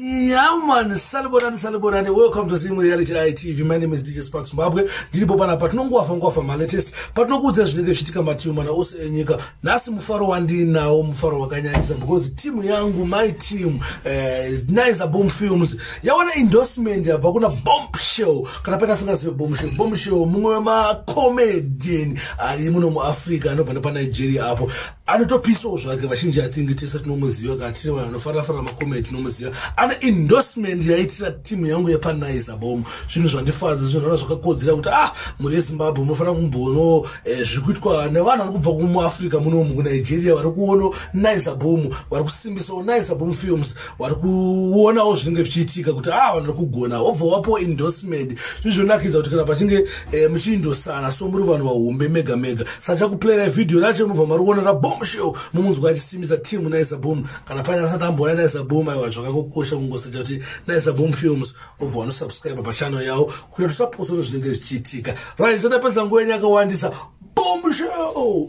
Yeah man, salibonani salibonani. Welcome to Zim Reality ITV. My name is DJ Sparks Zimbabwe. Ndiripo pana patinongowafa ngowafa ma latest. Patinokuudza zvinenge zvichitika matimu mana ose enyika. Nhasi mufaro wandinawo mufaro wakanyanyisa because team yangu my team eh uh, Nice Boom Films yawana endorsement yabva kuna Bombshell. Kana pena singazive Bombshell. Bombshell mumwe wema comedian ari muno mu Africa anobva nepa Nigeria apo. anotopisawo zvake vachinji athingi tese tinomuziva kana tiri vanhu anofarira farira makomedi tinomuziva ane endorsement yaitira timu yangu yepanaiza bom zvinhu zvandifadza zvinhu ana zvakakodzera kuti ah mhuri yezimbabwe munofanira kumbono eh, zviri kuitwa nevanhu vari kubva kumuafrica munomu kunigeria vari kuono naiza bom vari kusimbisawo naiza bom films wari kuonawo zvinenge zvichiitika kuti a ah, vanhu vari kugona wobva wapo endorsement zvizvonakidza kuti kana pachinge eh, muchiindosana so muri vanhu vahombe mega mega sachakuplayera vhidhiyo racho mubva mari kuona rabomshel mumunzwa achisimisa team naisa boom kana paine asati amboona naisa boom aiwa zvakakokosha kungosacha kuti naisa boom films wobva wanosubscribe pachannel yawo kuita kuti usaposono zvinenge zvichiitika right satapedza nguva yenyu yakawandisa bomshel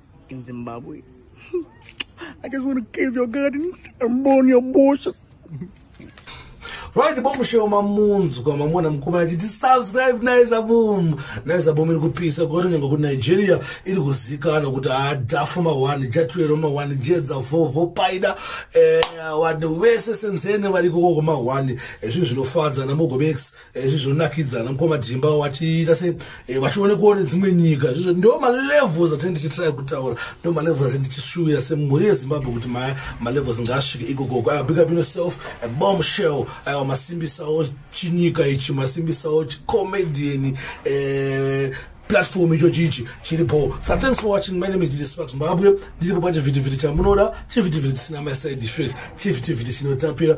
in Zimbabwe. I just want to cave your gardens and burn your bushes. right bomushewo mamunzwa mamona mukuru achiti subscribe naisa boom naisa boom iri kupisa kwato nyange kunigeria iri kuzikana kuti hadafu mawani jatwero mawani jedza vovo paida eh, vanhu vese senzene vari kokoko mawani eh, zvinhu zvinofadza namogobex izvi zvonakidzana mukoma dhimba wachiita se eh, vachionekwa nedzimwe nyika izvizvo ndo malevels atee ndichitry kutaura ndo malevels atee ndichishuvira semhuri yezimbabwe kuti maya malevels ngaasvike ikokoko aya big up ino self a bomb shell aya masimbisawo chinyika ichi masimbisawo chicomedian eh, platform icho chichi chiripo so thanks for watching my name is dj spark zimbabwe ndiripo pachivhitivhiti chamunoda chivhitivhiti chisina maside effect chivhitivhiti chinotapira